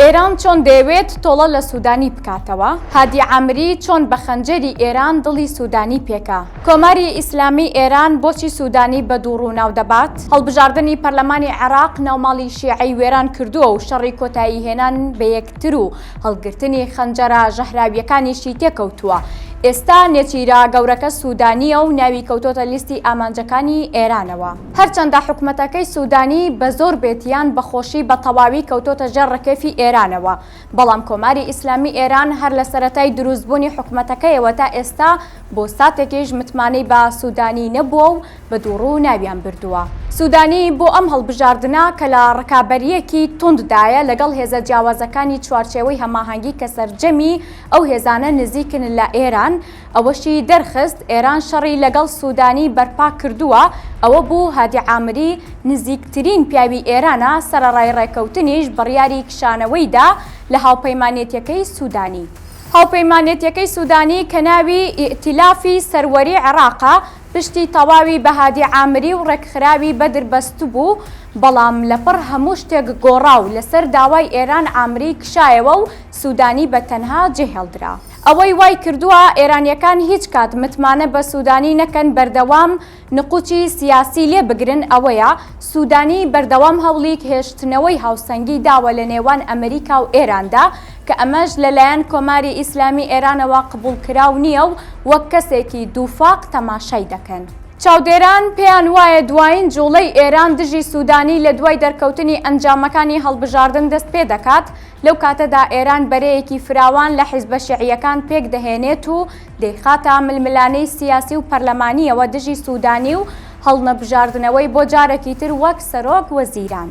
ئێران چۆن دەیەوێت تۆڵە لە سودانی بکاتەوە؟ هادی عامری چۆن بە خەنجەری ئێران دڵی سودانی پێکا؟ کۆماری ئیسلامی ئێران بۆچی سودانی بە دووڕوو ناو دەبات؟ هەڵبژاردنی پەرلەمانی عێراق ناوماڵی شیعەی وێران کردووە و شەڕی کۆتایی هێنان بە یەکتر و هەڵگرتنی خەنجەرە ژەهراوییەکانیشی تێکەوتووە. ئێستا نێچیرە گەورەکە سودانییە و ناوی کەوتۆتە لیستی ئامانجەکانی ئێرانەوە. هەرچەندە حکومەتەکەی سودانی بە زۆر بێت یان بە خۆشی بە تەواوی کەوتۆتە ژێر ڕکێفی ئێرانەوە، بەڵام کۆماری ئیسلامی ئێران هەر لە سەرەتای دروست بوونی حکومەتەکەیەوە تا ئێستا بۆ ساتێکیش متمانەی بە سودانی نەبووە و بە دووڕوو ناویان بردووە. سودانی بۆ ئەم هەڵبژاردنە کە لە ڕکابەرییەکی توند دایە لەگەڵ هێزە جیاوازەکانی چوارچێوەی هەماهەنگی کە سەرجەمی ئەو هێزانە نزیکن لە ئێران، ئەوەشی دەرخست ئێران شەڕی لەگەڵ سوودانی بەرپا کردووە، ئەوە بوو هادی عامری نزیکترین پیاوی ئێرانە، سەرەڕای ڕێککەوتنیش بڕیاری کشانەوەی دا لە هاوپەیمانێتیەکەی سوودانی. هاوپەیمانێتیەکەی سوودانی کە ناوی ئیئتیلافی سەروەری عێڕاقە، پشتی تەواوی بە هادی عامری و ڕێکخراوی بەدر بەستبوو، بەڵام لەپڕ هەموو شتێک گۆڕا و لەسەر داوای ئێران عامری کشایەوە و سوودانی بە تەنها جێهێڵدرا. ئەوەی وای کردووە ئێرانییەکان هیچ کات متمانە بە سوودانی نەکەن بەردەوام نقوچی سیاسی لێ بگرن ئەوەیە، سوودانی بەردەوام هەوڵیک هێشتنەوەی هاوسەنگی داوە لە نێوان ئەمریکا و ئێراندا کە ئەمەش لە لایەن کۆماری ئیسلامی ئێرانەوە قبووڵ کراو نییە و وەک کەسێکی دووفاق تەماشای دەکەن. چاودێران پێیان وایە دوایین جووڵەی ئێران دژی سوودانی لە دوای دەرکەوتنی ئەنجامەکانی هەڵبژاردن دەست پێ دەکات، لەو کاتەدا ئێران بەرەیەکی فراوان لە حیزبە شیعییەکان پێک دەهێنێت و دەیخاتە ململانێی سیاسی و پەرلەمانییەوە دژی سوودانی و هەڵنەبژاردنەوەی بۆ جارێکی تر وەک سەرۆک وەزیران.